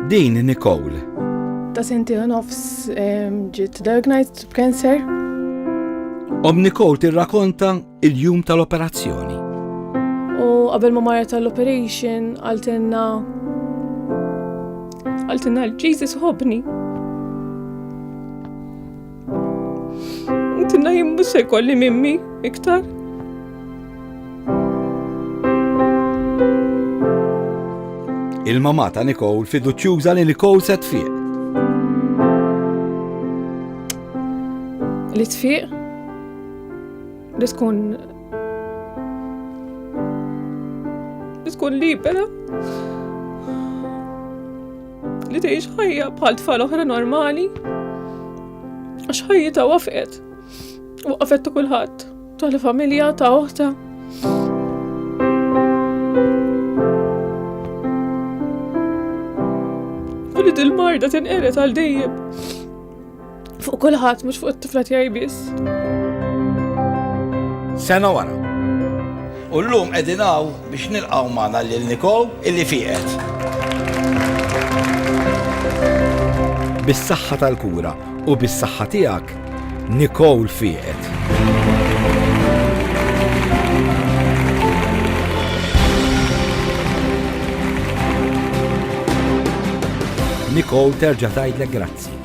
Din Nicole. Ta' senti nofs ġiet diagnosed b'cancer. Om Nicole tirrakonta il-jum tal-operazzjoni. U qabel ma marret tal-operation għaltinna għaltinna l-Jesus hobni. Intinna jimmu se kolli mimmi iktar. Il-mamata Nicole fiduċjuża li Nicole se tfiq. Li tfiq? Li tkun li tkun libera. Li tgħix ħajja bħal tfal oħra normali għax ħajjita wafqet. Waqfet ta' kulħadd, ta' familja ta' oħta. U li dil-marda tinqeret għal dejjem. Fuq kulħadd mhux fuq it-tifla tiegħi biss. Sena wara. U llum qegħdin hawn biex nilqgħu magħna lil Nikow illi fieqet. Bis-saħħa tal-kura u bis-saħħa tiegħek, Nicole fieqet. Nicole terġa' tgħidlek grazzi.